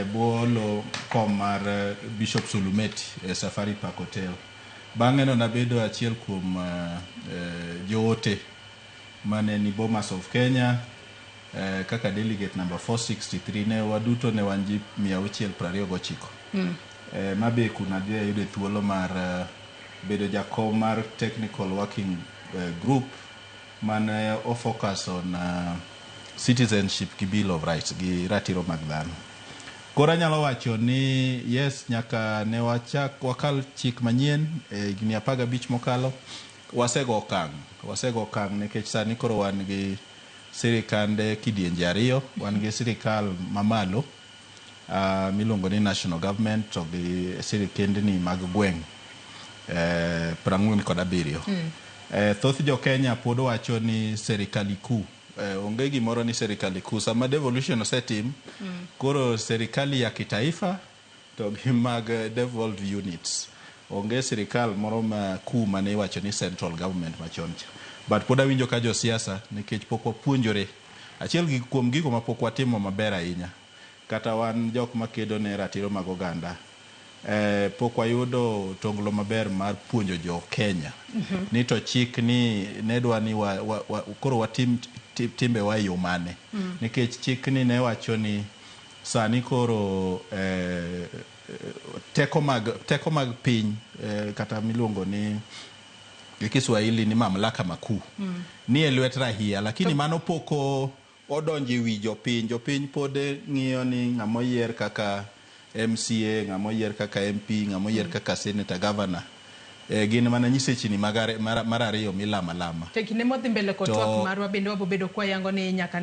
e bwo lo kom mar Bishop Sulumeti e Safari Park Hotel. Bang'eno nabedo achiel kuom joote mane ni Bomas of Kenya kaka delegate number 463 ne waduto ne wan ji 629. Ma be kuna dhi ayude thuolo mar bedo jakom mar technical working group mane o focus on citizenship gi bill of rights gi ratiro mag dhano. Koro anyalo wacho ni yes nyaka ne wachak wakal chik manyien e higni apar gabich mokalo, wasego okang', wasego okang' nikech sani koro wan gi sirikande kidienje ariyo, wan gi sirikal mamalo. miluongo ni National Government to gi sirikendni mag gweng' prang'wen kod abiriyo. Thoth jo Kenya pod wacho ni serikali kuu. Onge gimoro ni serikali kuu. Sama devolution osetim, koro serikali ya kitaifa to gi mag devolved units. Onge sirikal moro ma kuu mane iwacho ni central government machon cha. But pod awinjo ka jo siasa nikech pok wapuonjore. Achiel gi kuom gigo ma pok watimo maber ahinya kata wan jok ma kedo ne ratiro mag oganda e pok wayudo tonglo maber mar puonjo jo Kenya ni to chik ni ne dwa ni wa, wa, wa, koro watim ti- timbewa e yo mane nikech chik ni ne wacho ni sani koro eh, teko mag teko mag piny eh, kata miluongo ni gi Kiswahili ni mamlaka makuu mm. ni e lwet rahia lakini to... mano poko odonjo e wi jopiny. Jopiny pod ng'iyo ni ng'ama oyier kaka MCA, ng'ama oyier kaka MP, ng'ama oyier mm. kaka senator, governor eh, gin mana nyisechini mar ariyo milama lama. To kinde modhi mbele kod twak marwa bende wabobedo kwayango ni nyaka ne